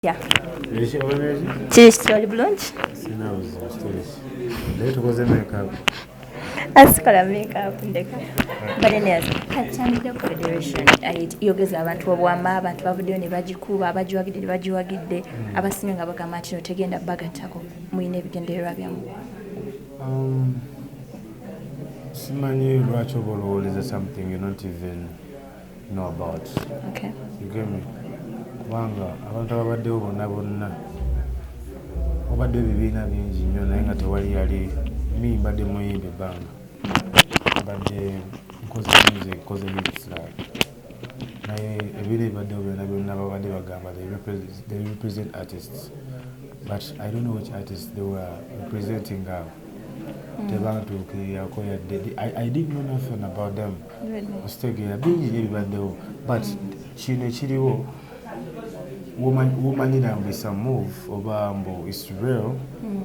kitya kiri kitoli bulungi asikola makeup ndeka but anyways katandikira ku federation yogeza abantu obwama abantu bavuddeyo ne bagikuba abagiwagidde ne bagiwagidde hmm. abasinga nga bagamba nti no tegenda bagattako mulina ebigendererwa byamu um, simanyi lwaki oba olowoleza something not even know about okay. you get me kubanga abantu ababaddewo bonna bonna obadde ebibiina bingi nnyo naye nga tewali yali mi mbadde muyimba ebbanga mbadde nkoze music koze hits like naye ebibiina ebibaddewo byonna byonna babadde bagamba they represent artists but i don't know which artists they were representing abo mm. tebantuukiriyako yadde i didn't know nothing about them okitegeera bingi nyo ebibaddewo but kino ekiriwo womanyira mbu isa move oba mbu is real hmm.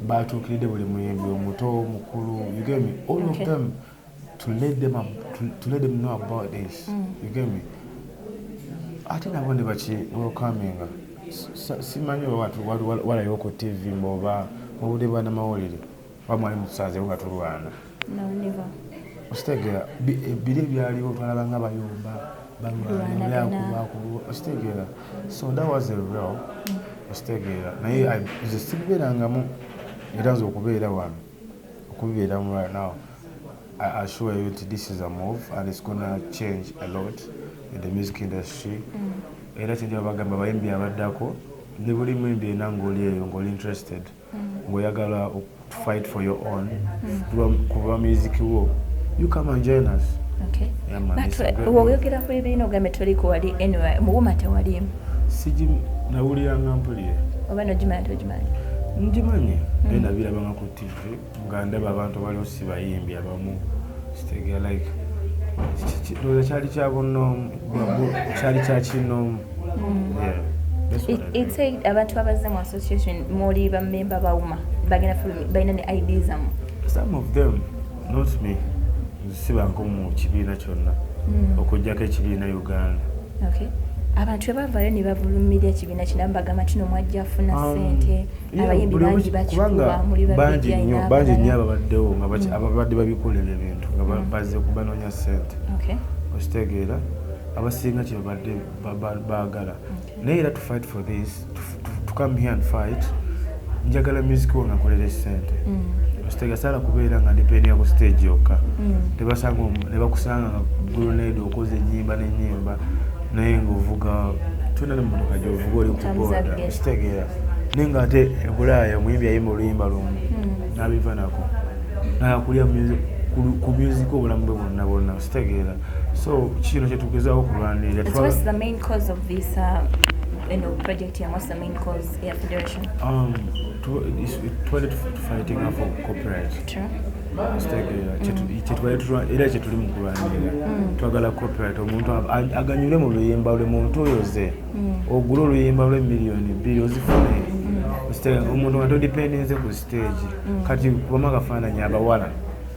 batuukiridde buli muyimbi omuto mukulu you get me all of them to let them, to, to let them know about this hmm. you get me ate nabo ne baki welcominga simanyi walayo ku tv mboba mubudde bwanamawulire oba mwali mutusanzewo nga tulwana okitegeera eh, biri ebyaliwo twalaba nga bayumba balwanaakulwa okitegeera so that was a real okitegeera mm. naye nze sibibeerangamu era nze okubeera wano okubibeeramu right now I assure you that this is a move and it's gonna change a lot in the music industry mm. era kyenjaba bagamba bayimbi abaddako ne buli muyimbi ena ng'oli eyo ng'oli interested mm. ng'oyagala to fight for your own hmm. kuba music wo you come and join us woyogera ku ebiina ogambe toliko wali anyway muwuma tewalimu siji nawuliranga mpulire oba nogimanya togimanyi ngimanyi hmm. naye nabirabanga ku tv nga ndaba abantu baliwo sibayimbi abamu kitegera like kyali kyabunoomu kyali kyakinoomu ate abantu abazze mu association muli bamemba bawuma bagenda balina ne id zamu some of them not me sibanko mu kibiina kyonna hmm. okujjako ekibiina uganda abantu bebavayo nebavulumira ekibiina kino bagamba tino mwajja funa um, sente abayimbi bangi bakikubamulibangi nnyo ababaddewo hmm. ababadde babikolera ebintu nga hmm. bazze kubanonya sente okitegeera abasinga kyebabadde baagala naye era to fight for this to, to, to come here and fight njagala music wo ngakolera esente mm. ositegasaala kubeera nga ndipenia ku stage yokka mm. nebakusanga nga gulonade okoze enyimba nenyimba naye ngaovuga tuna nemotoka gyovuga oli kuboda ositegeera naye nga ate ebulaaya omuyimbi ayimba oluyimba lumu mm. nabiva nako nakulya ku music obulamu bwe bwonna bwonna kitegeera so kino kyetugezaho okulwanirira eno project ya what's the main cause ya federation um twali fighting for copyright true era kyetuli mu kulwanirira mm. twagala copyright omuntu aganyule mu luyimba lwe muntu oyo ze mm. ogule oluyimba lwe miliyoni bbiri ozifune mm. omuntu nga todipendinze ku stage kati kubamu akafaananyi abawala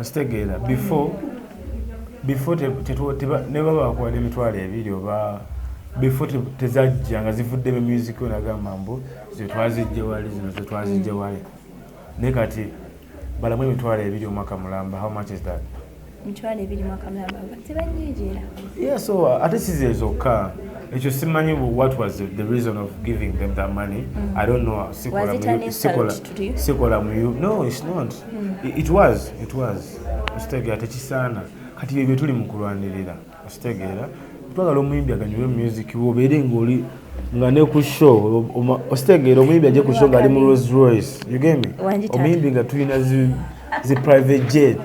okitegeera before before nebaba bakuwa nemitwalo ebiri oba before tezajja nga zivudde mu music yo nagamba mbu zetwazijje wali zino zetwazijje mm. wali naye kati balamu emitwalo ebiri omwaka mulamba how much is that mitwalo ebiri mwaka mulamba tebanyingira yeah so uh, ate size zokka ekyo simanyi what was the reason of giving them that money mm. i don't know sikola sikola mu no it's not mm. it was it was okitegeera tekisaana kati bye byetuli mu kulwanirira okitegeera twagala omuyimbi aganyule music wobeere ngaoli nga ne ku show okitegeera omuyimbi aje ku show ngaali mu rose royce ugeme omuyimbi nga tulina zi private jet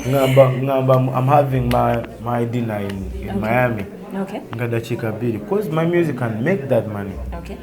ngamba ngamba i'm having my, my dinner in, in okay. miami okay. nga dakiika bbiri bcause my music can make that money okay.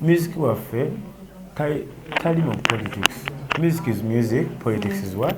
Music waffe tali mu politics. Music is music, politics is what?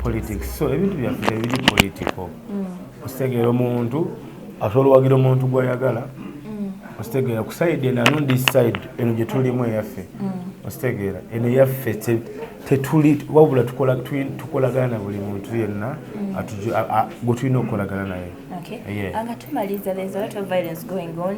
Politics. So ebintu byaffe tebiri political. Mm. Ositegeera omuntu asobola owagira omuntu gwayagala mm. ositegeera ku side eno anu this side eno gye tulimu eyaffe mm. ositegeera eno eyaffe tetuli wabula tukolagana na buli muntu yenna gwe tulina okukolagana naye nga tumaliza there's a lot of violence going on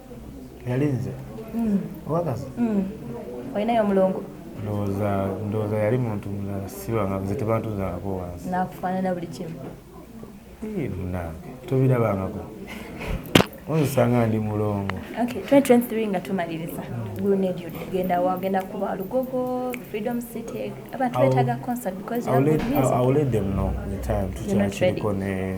yali nze mm. obakazi mm. olinayo omulongo ndowooza yali muntu mulala sibanga nze tebantuzaako wansi nakufaanana buli kimu munange tobirabangako onsanga ndi mulongo 2023 nga tumaliriza gulunedio genda wagenda kuba lugogo freedom city abantu betaga concert because you have good music i will let them know the time tukyakiriko ne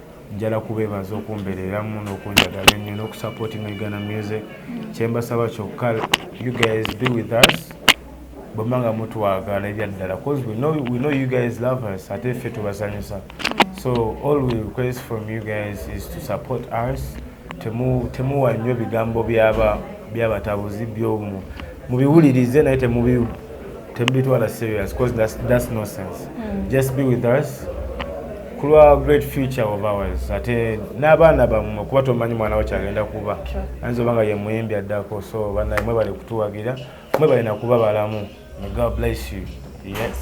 njala kubeebaza okumbereeramu n'okunjagala ennyo n'okusapootinga uganda music kyembasaba kyokka you guys be with us bwemba nga mutwagala ebyaddala bcause we know, we know you guys love us ate ffe tubasanyusa so all we request from you guys is to support us temuwa nnyo bigambo byabatabuzi byomu mubiwulirize naye temubi tebitwala serious because that's, that's no sense mm. just be with us kulwa great future of ours ate n'abaana bamwe kuba tomanyi mwana wo kyagenda kuba ayinza oba nga ye muyimbi addako so banaye mwe bali kutuwagira mwe balina kuba balamu may god bless you yes.